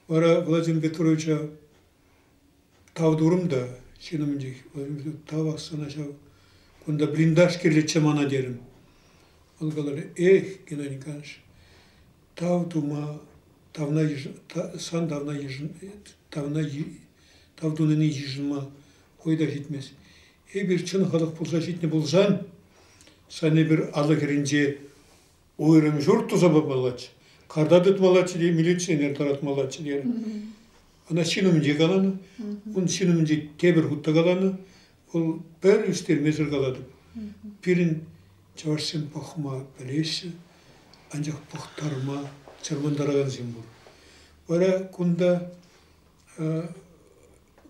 Вара Владимир Петровича тав турӑм та ҫын умӗнчех тав сана ҫав, кунта блиндаж кирлӗччӗ мана терӗм. Вӑл каларӗ, эх, Геннадий Николаевич, тав тума, тавна йышӑ, сан тавна йышӑн, тавна тав тунине йышӑнма хӑй та ҫитмест. Эпир чӑн халӑх пулса ҫитнӗ пулсан, сан эпир алӑ хӗрринче уйрӑм ҫурт туса памаллаччӗ, карта тытмаллаччӗ те милиционер тӑратмаллаччӗ терӗ. Ӑна ҫын умӗнче каланӑ, ун ҫын умӗнче тепӗр хут та каланӑ, вӑл пӗр ӳстермесӗр калатӑп. Пирӗн чӑвашсем пӑхма пӗлеҫҫӗ, анчах пӑхтарма чӑрмантаракансем пур. Вара кунта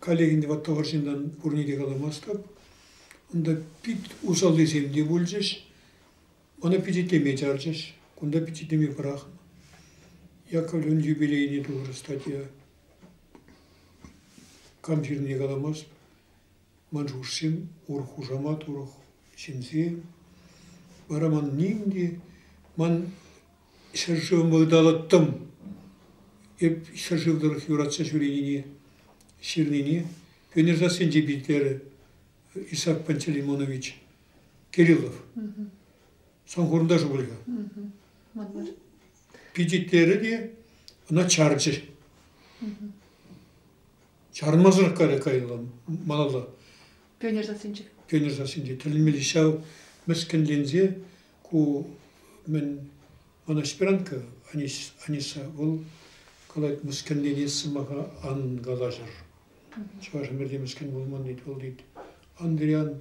каллехинде ватта вӑрҫындан пурне те каламастӑп. Унта пит усаллисем те пулчӗҫ. Ӑна пичетлеме чарчӗҫ. Кунта пичетлеме пӑрахнӑ. Яковлевӑн юбилейне тухрӗ статья. Кам ҫырнине каламасть. Ман шухӑшсем урӑх хушамат, урӑх ҫынсем. Вара ман ним те, ман ҫӗршывӑм ыталӑттӑм. Эп ҫӗршыв тӑрӑх юратса ҫӳренине, ҫырнине Венер сассинче питлерӗ Исак Пантелеймонович. Кириллов. Санхурӑнташу пулӗ. Пичетлері те ӑна чарчӗ. Чармасӑрах кайрӗ кайла малалла. Пионер сассинче. Пионер сассинче тӗлӗнмелли ҫав мӗскӗнленсе ку мӗн она аспирантка Аниса вӑл калать мӗскӗнленес сӑмаха ан калаҫӑр. Чӑваш ӗмӗрте мӗскӗн пулман тет вӑл тет Андриан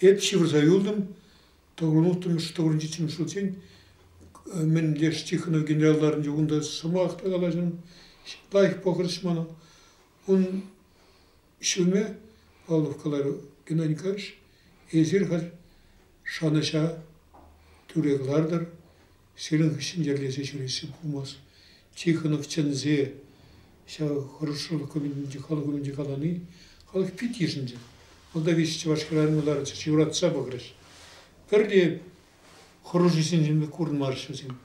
Эп ҫывӑрса юлтӑм. Пӑрун утрӑмӗш тӑвӑрӑнчиччен шутчен мӗн леш Тихонов генералларӗнче унта сӑмах та калаҫӑм. Лайӑх пӑхӑрӑш мана. Ун ҫумӗ, Павлов каларӗ, Геннадий Николаевич, эсир халь шанӑҫа тӳре кӑлартӑр. Сирӗн ҫӗнтерсе ҫӳреҫҫӗ пулмасть. Тихонов чӗнсе ҫав хорошо документӗнче, халӑх умӗнче калани халӑх пит йышӑнчӗ. Молдавич чӑваш хӗрарӑмларчӗ юратса пӑхрӗҫ. Пӗрре хӑрушӑсенчен пек курӑнмарӗҫ вӗсем.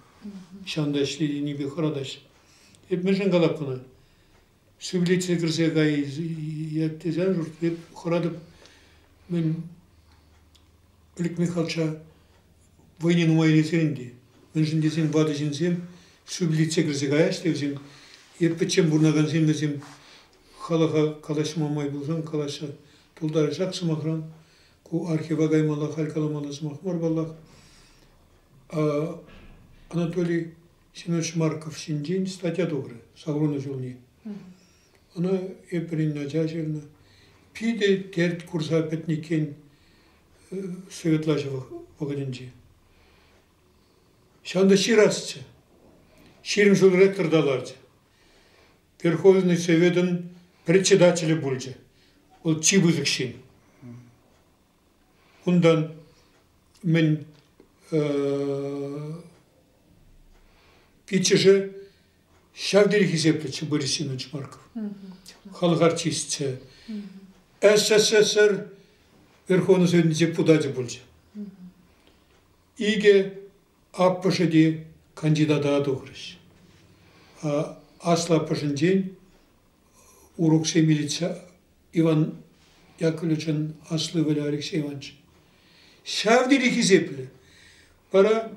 Ҫавӑнта ӗҫлетӗнипе хӑратаҫҫӗ. Эп мӗншӗн калап кӑна? Шевличе кӗрсе каять тесе шуртнӑ хӑратӑп. Мӗн Олег Михайловича вӑйне нумай илесен ӗнтӗ. Мӗншӗн тесен ватӑ ҫынсем шевличе кӗрсе каяҫ те вӗсем е пӗччен пурӑнакансем вӗсем халӑха калаҫма май пулсан калаҫса тултарасах сӑмахран. Ку архива каймалла, халь каламалла сӑмах мар паллах. Анатолий Семен Шмарков ҫинчен статья тухрӗ Савронов ҫулне. Ӑна Эприн ача ҫырнӑ. Питӗ терт курса пӗтнӗ иккен э, советла ҫӑвӑх вӑхӑтӗнче. Ҫавӑн та ҫырасчӗ. Ҫирӗм ҫул ректор та ларчӗ. Верховный Советӑн председателӗ пулчӗ. Вӑл чи пысӑк ҫын. Унтан мӗн иккӗшӗ ҫав тери хисеплӗччӗ Борис Семенович Марков. Халӑх артисчӗ. СССР Верховнӑсен депутачӗ пулчӗ. Икӗ аппӑшӗ те кандидата тухрӗҫ. Аслӑ аппӑшӗнчен уроксем илтсе Иван Яковлевичӑн аслӑ ывӑлӗ Алексей Иванович. Ҫав тери хисеплӗ. Вара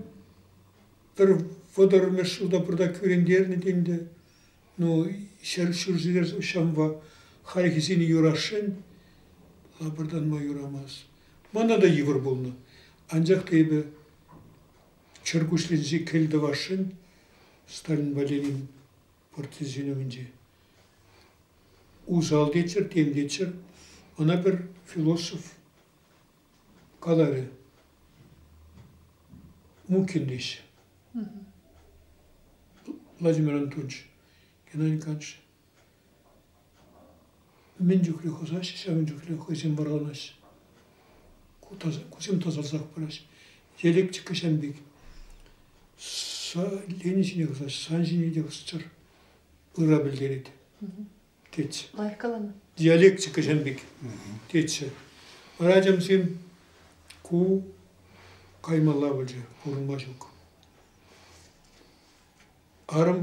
пӗр вӑтӑрмӗш ҫулта пурта кӳрентернӗ ӗнтӗ. Ну, ҫӗр ҫурҫӗрер ҫамва хальхисене юрасшӑн, лапӑртанма юрамасть. Мана та йывӑр пулнӑ. Анчах та эпӗ чӗркуҫленсе кӗл тӑвасшӑн Сталинпа Ленин Партизан ҫынӑвӗнче. Усал теччӗр, тем теччӗр. Ӑна пӗр философ каларӗ. Мукин теҫҫӗ. Владимир Антонович, Геннадий Ильич, Мӗн чухлӗ хӑсаҫҫӗ, ҫавӑн чухлӗ хӑйсем вӑрланаҫҫӗ. Кусем тасалсах пыраҫҫӗ. Электрика ҫавӑн пек. Лени ҫине хӑсаҫҫӗ, сан ҫине те хӑсчӑр. Ырра пӗлтерет, тетчӗ. Лайӑх каланӑ. Диалектика ҫавӑн пек, тетчӗ. Вара ачамсем ку каймалла пулчӗ, пурӑнма ҫук. Арӑм,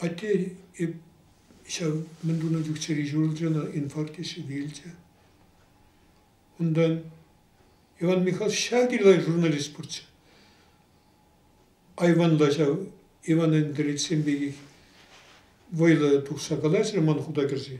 атте ҫав мӗн тунӑ чух чӗри ҫурӑлчӗ ӑна, инфаркчӗ вилчӗ. Унтан Иван Михайлович ҫак йӑла журналист пурччӗ. Айванла ҫав Иван Андреевичсем пекех вӑйлӑ тухса калаҫрӗ ман хута кӗрсе.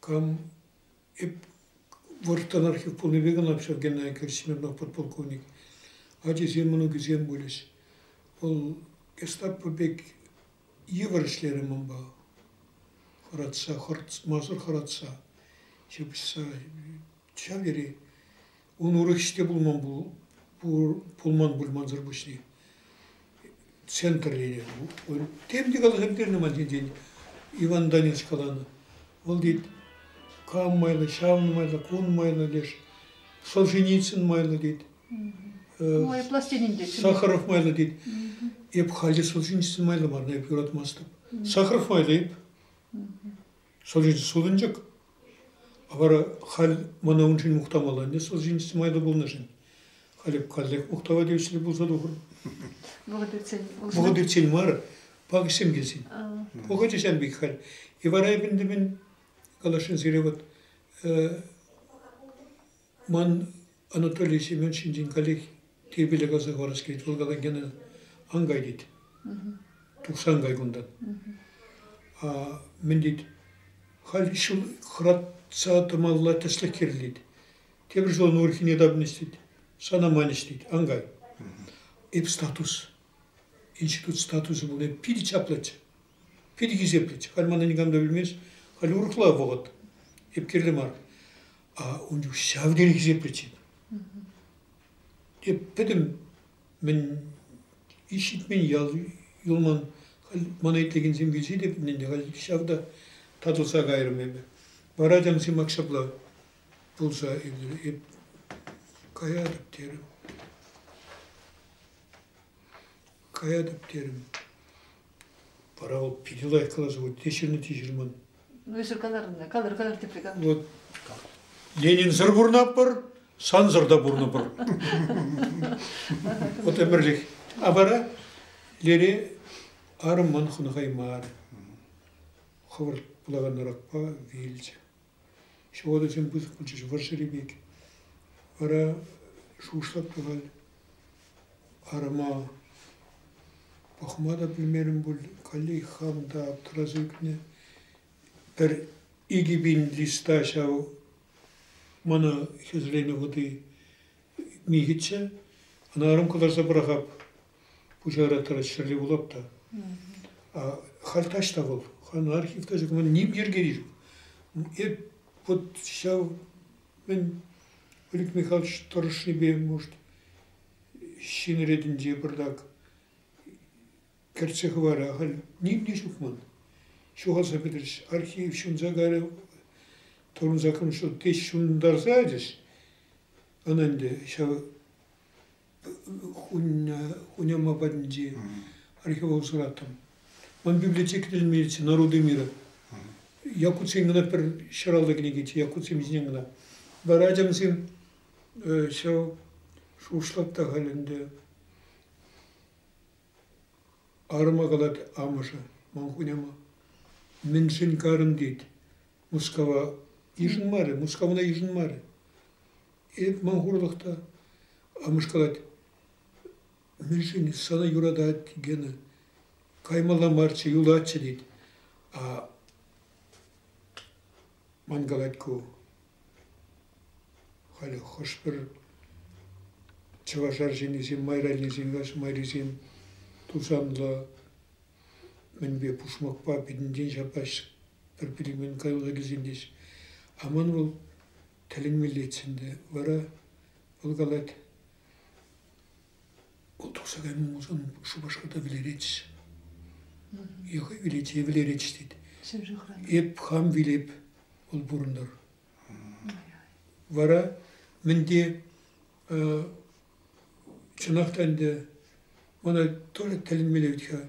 Кам эп вӑрттӑнах пулнипе кӑна ҫав Геннадий Всемировнах подполковник. Ачисем, мӑнукӗсем пулӗҫ. Вӑл гестапо пек йывӑр ӗҫлерӗ манпа. Хӑратса, хӑратмасӑр хӑратса ҫапӑҫса Чавири ун урӑхӗҫ те пулман пулман пулмансӑр пуҫне центрлене тем те каласа пӗтернӗ ман ҫинчен Иван Донец каланӑ вӑл тет кам майлӑ ҫавӑн майлӑ кун майлӑ леш Солженицын майлӑ тет айӑплас тенин те Сахаров майлӑ тет эп халӗ Солженицын майлӑ мар эп юратмастӑп Сахаров майлӑ эп Сӑлчӑ сутӑнчӑк. Вара халь мана уншӑн мухтамалланӗ сӑлчинчен май та пулнӑшӑн. Халӗ каллех мухтава тивӗҫлӗ пулса тухӑр. Вӑхӑт иртсен Вӑхӑт иртсен мар, пакӑҫсем килсен. Пӑхӑчӗ ҫав пек халь. И вара эпӗ ӗнтӗ мӗн каласшӑн сире вот Ман Анатолий Семен ҫинчен каллех тирпейле каласа хӑварас килет. Вӑл калан кӗнӗ ан кай тет. Тухсан кай кунтан. Мӗн тет, халь ҫул хӑратса тӑмалла тӗслӗх кирлет. Тепӗр ҫул ӑна урхине тапнӑҫ тет. Сана манӑҫ тет, ан кай. Эп статус, институт статусӗ пулни питӗ чаплӑччӗ. Пит хисеплӗч. Халь мана никам та пӗлмест. Халь урӑхла вӑхӑт. Эп кирлӗ мар. А ун чух ҫав тери хисеплӗ ҫын. Эп пӗтӗм мӗн ик ҫитмен ял юлман. Халь мана итлекенсем килсе те пӗтнӗ ӗнтӗ. Халь ҫав та татӑлса кайрӑм эпӗ. Вара чансем ак ҫапла пулса иртрӗ. Эп каятӑп терӗм. Каятӑп терӗм. Вара вӑл питӗ лайӑх каласа вот теҫҫӗрле теҫҫӗрлман. Ну, эсир каларӑн, калӑр, калӑр тепре калӑр. Вот Ленинсӑр пурӑнатпӑр, сансӑр та пурӑнӑпӑр. Вот ӗмӗрлӗх. А вара лере арӑммӑн хӑнӑхаймар. Хӑвӑрт пулаканракпа вилчӗ. Ҫӑватӑсем пысӑк пулчӗҫ вӑрҫӑри пек. Вара шушлӑк тӑвать, арӑма пӑхма та пӗлмерӗм пуль, каллех хам та аптӑраса ӳкнӗ. Пӗр икӗ пин листа ҫав мана хӗсленӗ вӑти михӗччӗ, ӑна арӑм кӑларса пӑрахап. Пуҫара тӑрать ҫӗрле вулап та. Халь таҫта вӑл, хан архив тӑсӑкӑн ним йӗркери ҫук. Эп вот ҫав мӗн Олег Михайлович тӑрӑшнипе, может, ҫын ретӗнче пӑртак кӗртсе хӑварӗ, ахаль ним те ҫук ман. Ҫухалса пӗтрӗҫ, архив ҫунса кайрӗ, тӑрӑнса кӑмшу теҫ ҫунтарса ячӗҫ. Ӑна ӗнтӗ ҫав Хуняма патӗнчи археолог сӑраттӑм. Ман библиотека тӗлӗнмеется «Народы мира». Якутсен гына пӗр ҫӑраллӑ кӗнеке, якутсем ҫинчен гына. Вара ачамсем ҫав шушлать та халь ӗнтӗ. Арӑма калать амӑшӗ, ман хуняма. Мӗншӗн карӑн тет. Мускава йышӑнмарӗ, Мускавна йышӑнмарӗ. Эп ман хурлӑх та амӑшкалать. Мӗншӗн сана юратать, Гена? Каймалла марччӗ, юлатчӗ тет. А ман калать ку, халӗ хӑш-пӗр чӑваш арҫыннисем, майраннисем, каҫ майрисем тусанлӑ мӗнпе пушмакпа пӗтӗмтен ҫапаҫҫӗ. пӗр-пӗри мӗн каяллахисем теҫ. Аман вӑл тӗлӗнмеллех ӗнтӗ. Вара вӑл калать, вӑл тухса кайма мулсан Шупашкарта вӗлеретчӗ. Йӑха вилет е вӗлеретчӗ тет. Эп хам вилеп, вӑл пурӑнтӑр. Вара мӗн те чӑнах та ӗнтӗ мана тоже тӗлӗнмелле вӗт-ха.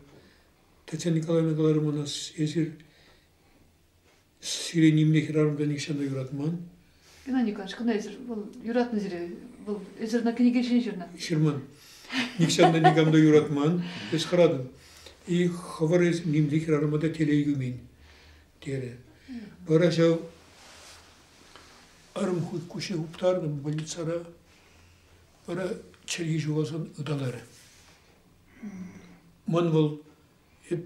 Татьяна Николаевна каларӗ мана, эсир сире нимле хӗрарӑмда нихҫан та юратман. Геннадий Николаевич, кӑна эсир, вӑл юратнӑ сире, вӑл эсир на кӗнеке ҫине ҫырнӑ. Ҫырман. Нихҫан та никам та юратман, эс хӑратӑн. И хӑвӑр эс нимле хӗрарӑма та телей кӳмен, терӗ. Вара ҫав арӑм хут куҫне уптарнӑ больницара, вара чӗлхи ҫухалсан ыталарӗ. Мӑн вӑл эп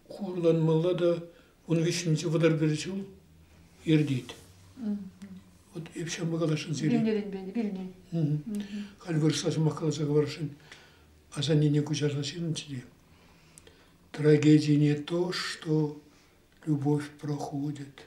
хурланмалла та ун вӗҫҫӗнче вӑтӑр пӗр ҫул иртет. Вот эп ҫавӑнпа каласшӑн сире. Вилнӗренпе вилни. Халь вырӑсла сӑмах каласа хӑварасшӑн асаннене куҫарса ҫырнӑччӗ те. Трагедия не то, что любовь проходит.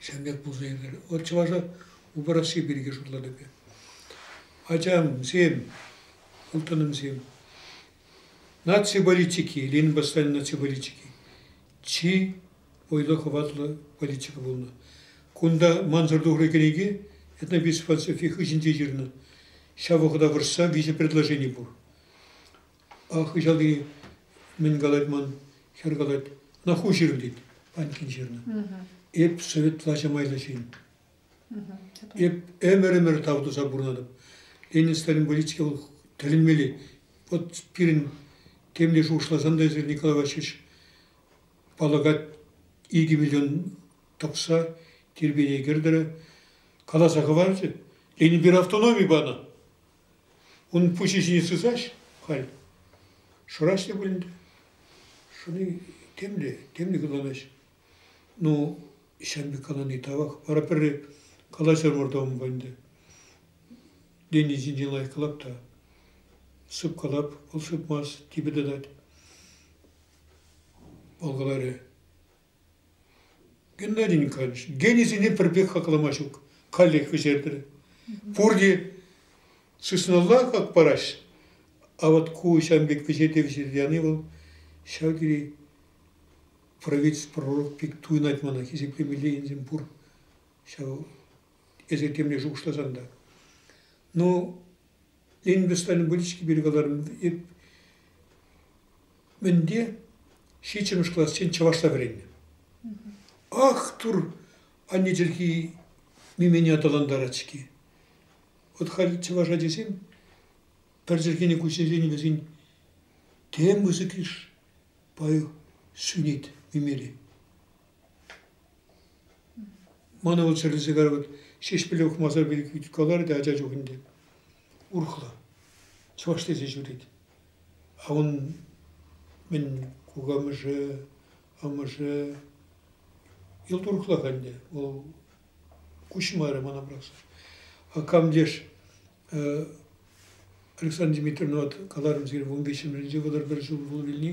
Ҫавӑн пек пулса иртет. Вӑл чӑваша упӑрасси пирки шутлать эпӗ. Ачамсем, ылтӑнӑмсем, наци политики, Ленин повстанӗн наци политики чи вӑйлӑ хӑватлӑ политика пулнӑ. Кунта мансӑр тухрӑ кӗнеке этнописфилософи хыҫӗнче ҫырнӑ. Ҫав вӑхӑта вӑрҫса виҫӗ предложени пур. А хыҫалти мӗн калать ман, хӗр калать, ӑна ху ҫыр тет, Панькин ҫырнӑ. Эп совет влаҫа майлӑ ҫын. Эп ӗмӗр-ӗмӗр тав туса пурӑнатӑп. Ленин Сталинболитске вӑл тӗлӗнмелле. Вот пирӗн темле шухӑшласан та эсир, Николай Васильевич, паллакать икӗ миллион тӑкса тирпейе кӗртӗрӗ. Каласа хӑварчӗ, Ленин пир автономи панӑ. Ун пуҫӗ ҫине сысаҫ халь. Шӑраҫ те пулин те. Шӑни темле, темле кӑланаҫ. Ну, ҫав пек калани тавах. Вара пӗрре калаҫар вӑртамӑпа ӗнтӗ. Денни ҫинчен лайӑх калап та. Сып калап, вӑл сыпмасть, типӗ тытать. Вӑл каларӗ. Геннадийӗн канӑҫ. Генисене пӗрпех хаклама ҫук. Каллех вӗҫертрӗ. Пурте сысналла хак параҫ. А вот ку ҫавӑн пек вӗҫерте вӗҫерте яни вӑл ҫав тери правительство пророк пек туйӑнать мана хисеплемелле енсем пур. Ҫав эсӗ темле шухӑшласан та. Ну, Инвестӑн выльӑхки пирки каларӑм. Мӗнте ҫиччӗмӗш классен чӑвашла вӗреннӗ. Ах, тур, анне чӗлхи мимене аталантарать-ҫке. Вот халь чӑваш ачисем пӗр чӗлхене куҫсерен вӗсен тем пысӑк иш пай сӳнет мимере. Мана вӑл чирлӗ сигар вӑт Ҫеҫпӗле ухмаса пилӗк каларӗ те ача чух ӗнтӗ. Урӑхла. Чӑваш тесе ҫӳрет. А ун мӗн кукамӑшӗ, амӑшӗ йӑл турӑхлах ӗнтӗ. Вӑл куҫмарӗ мана просто. А кам теш Александра Дмитриевна каларӑм сире вун виҫҫӗмӗшӗнче вӑтӑр пӗр ҫул пул вилни.